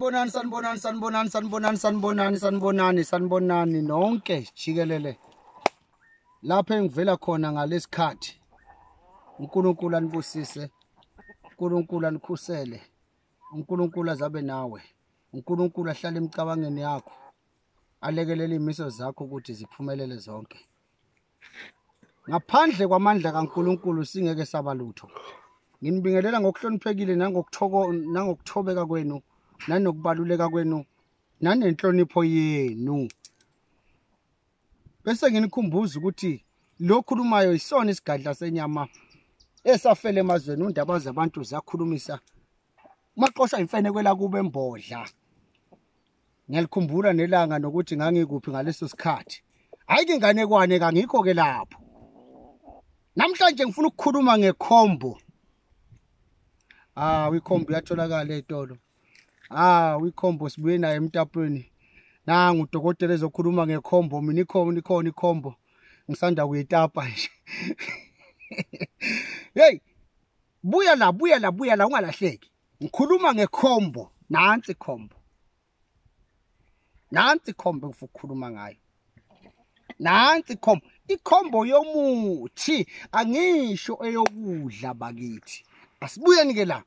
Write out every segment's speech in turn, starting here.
Sanibonani sanibonani sanibonani sanibonani sanibonani sanibonani sanibonani nonke jikelele lapho engivela khona ngalesikhathi uNkulunkulu anibusise uNkulunkulu anikhusele uNkulunkulu azabe nawe uNkulunkulu ahlale emicabangeni yakho alekelele imiso zakho ukuthi ziphumelele zonke ngaphandle kwamandla kaNkulunkulu singeke saba lutho nginibingelela ngokuhloniphekile nangokuthoko nangokuthobeka kwenu nanokubaluleka kwenu nanenhlonipho yenu bese nginikhumbuza ukuthi lokhulumayo isona isigadla senyama esafele emazweni undaba zabantu zakhulumisa maqosha imfene kwela kube embodla ngiyalikhumbula nelanga nokuthi ngangikuphi ngaleso sikhathi hayi ke nganekwane kangikho ke lapho namhlanje ngifuna ukukhuluma ngekhombo ah ikhombo yatholakala etolo ah ikhombo sibuye naye emtapweni nangu udokotela ezokhuluma ngekhombo mina ikhona ikhona ikhombo ngisanda kuyitapa nje hey buya la buya la buya la ungalahleki ngikhuluma ngekhombo nansi khombo nansi khombo ngifuna ukukhuluma ngayo nansi khombo ikhombo yomuthi angisho eyokudla bakithi asibuyeni ke la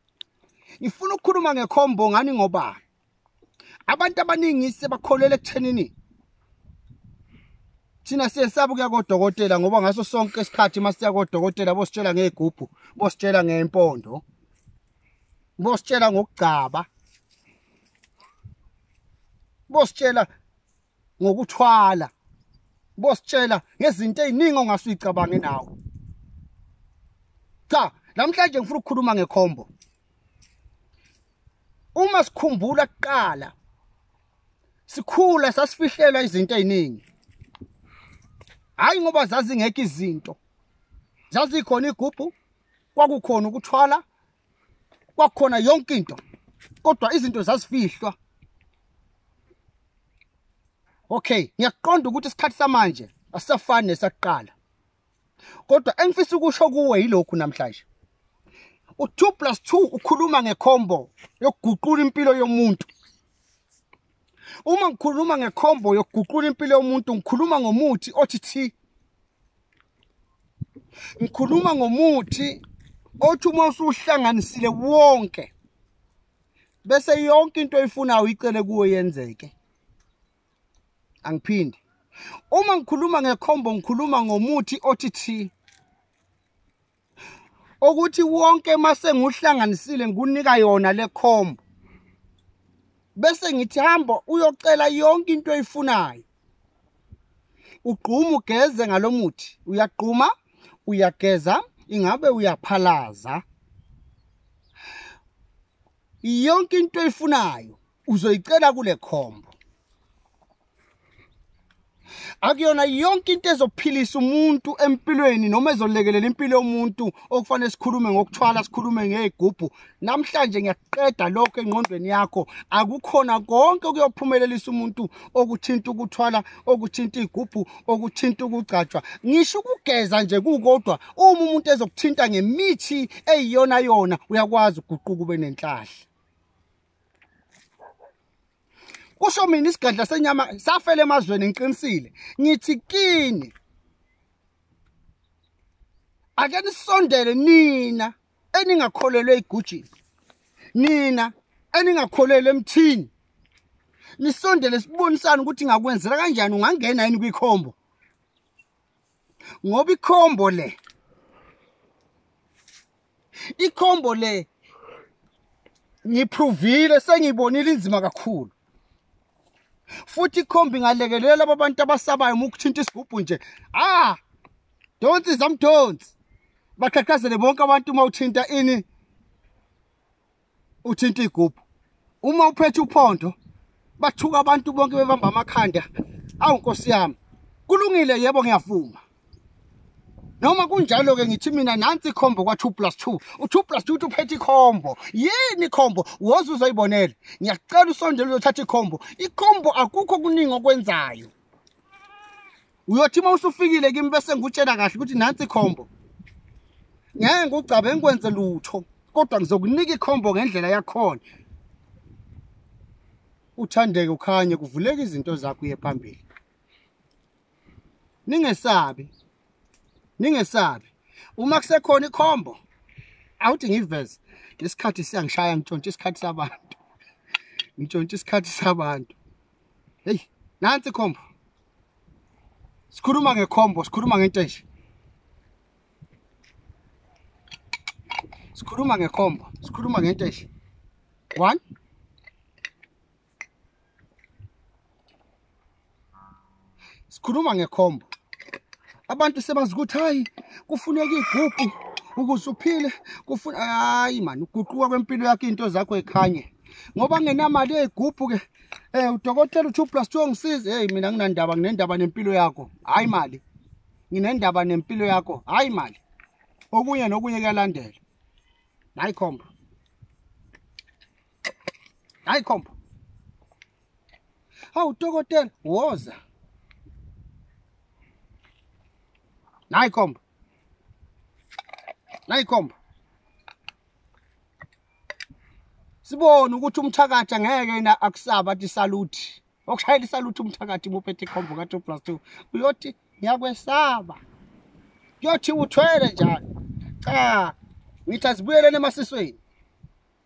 ngifuna ukukhuluma ngekhombo ngani ngoba abantu abaningi sebakholele ekuthenini thina siyesaba ukuya kodokotela ngoba ngaso sonke isikhathi uma siya kodokotela bositshela ngey'gubhu bositshela ngempondo bositshela ngokugcaba bositshela ngokuthwala bositshela ngezinto eziningi ongase uyicabange nawo cha namhlanje ngifuna ukukhuluma ngekhombo uma sikhumbula kuqala sikhula sasifihlelwa izinto eziningi hayi ngoba zazingekho izinto zazikhona igubhu kwakukhona ukuthwala kwakukhona yonke into kodwa izinto zazifihlwa okay ngiyaqonda ukuthi isikhathi samanje asisafani nesakuqala kodwa engifisa ukusho kuwe yilokhu namhlanje u2 plus 2 ukhuluma ngecombo yokuguqula impilo yomuntu uma ngikhuluma ngecombo yokuguqula impilo yomuntu ngikhuluma ngomuthi othi thi ngikhuluma ngomuthi othi uma usuhlanganisile wonke bese yonke into oyifunayo uyicele kuwe yenzeke angiphindi uma ngikhuluma ngekhombo ngikhuluma ngomuthi othi thi ukuthi wonke mase nguhlanganisile ngikunika yona le khombo bese ngithi hamba uyocela yonke into oyifunayo ugquma ugeze ngalomuthi uyagquma uyageza ingabe uyaphalaza yonke into oyifunayo uzoyicela kule khombo akuyona yonke into ezophilisa umuntu empilweni noma ezolekelela impilo yomuntu okufanele sikhulume ngokuthwala sikhulume ngey'gubhu namhlanje ngiyaqeda lokho engqondweni yakho akukhona konke okuyophumelelisa umuntu okuthinta ukuthwala okuthinta iy'gubhu okuthinta ukugcatshwa ngisho ukugeza nje kukodwa uma umuntu ezokuthinta ngemithi eyiyona yona uyakwazi ukuguquka ube nenhlahla kusho mina isigadla senyama safela emazweni ngiqinisile ngithi kini ake nisondele nina eningakholelwe igujini nina eningakholelwe emthini nisondele sibonisane ukuthi ngakwenzela kanjani ungangena yini kwikhombo ngoba ikhombo le ikhombo le ngiprovile sengibonile inzima kakhulu futhi ikhombi ngalekelela laba bantu abasabayo uma ukuthinta isigubhu nje ah donsi zamdonsi baqhaqhazele bonke abantu uma uthinta ini uthinta igubhu uma uphethe uphondo bathuka abantu bonke bebamba amakhanda awu nkosi yami kulungile yebo ngiyavuma noma kunjalo-ke ngithi mina nansi ikhombo kwa-two plus two u-two plus two uthi uphethe ikhombo yini ikhombo woze uzoyibonela ngiyacela usondela uyothatha ikhombo ikhombo akukho kuningi okwenzayo uyothi uma usufikile kimi bese ngikutshela kahle ukuthi nansi ikhombo ngeke ngigcabe ngikwenze lutho kodwa ngizokunika ikhombo ngendlela yakhona uthandeke ukhanye kuvuleka izinto zakho uye phambili ningesabi ningesabi uma kusekhona ikhombo awuthi ngiveze lesikhathi siyangishaya ngitshontshe isikhathi sabantu ngitshontshe isikhathi sabantu heyi nansi khombo sikhuluma ngekhombo sikhuluma ngento enje sikhuluma ngekhombo sikhuluma ngento enje one sikhuluma ngekhombo abantu sebazi ukuthi hayi kufuneka igugu ukuze uphile kufuna hayi mani uguquka kwempilo yakho into zakho ekhanye ngoba ngenamali eyigubhu ke eh udokotela u2 plus 2 ngisize hey mina nginandaba nginendaba nempilo yakho hayi mali nginendaba nempilo yakho hayi mali okunye nokunye kuyalandela hayi khombo hayi khomba hawu dokotela woza nayi khomba nayi khomba sibone ukuthi umthakathi angeke yena akusaba athi saluthi okushayela isaluthi umthakathi muphethe ikhombo ka-two plus two uyothi ngiyakwesaba kuyothi uthwele njalo cha ngithi asibuyeleni emasisweni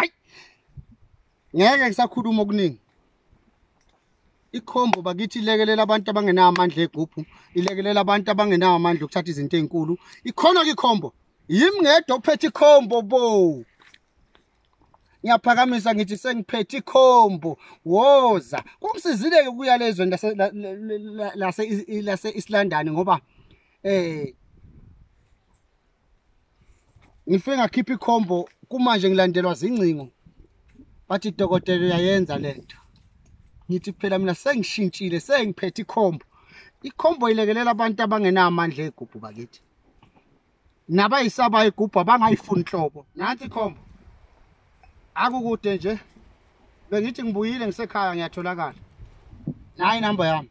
ayi ngeke ngisakhuluma okuningi ikhombo bakithi ilekelela abantu abangenawo amandla egubhu ilekelela abantu abangenawo amandla okuthatha izinto ezinkulu ikhona ke ikhombo yimi ngedwa ophethe ikhombo bo ngiyaphakamisa ngithi sengiphethe ikhombo woza kumsizile ke ukuya lezweni lase lase lase Islandani ngoba eh ngifike ngakhipha ikhombo kumanje ngilandelwa zingcingo bathi dokotela uyayenza le nto ngithi phela mina sengishintshile sengiphethe ikhombo ikhombo ilekelela abantu abangenamandla egubhu bakithi nabayisabayo igubhu abangayifuni nhlobo nansi ikhombo akukude nje bengithi ngibuyile ngisekhaya ngiyatholakala nayi inamba yami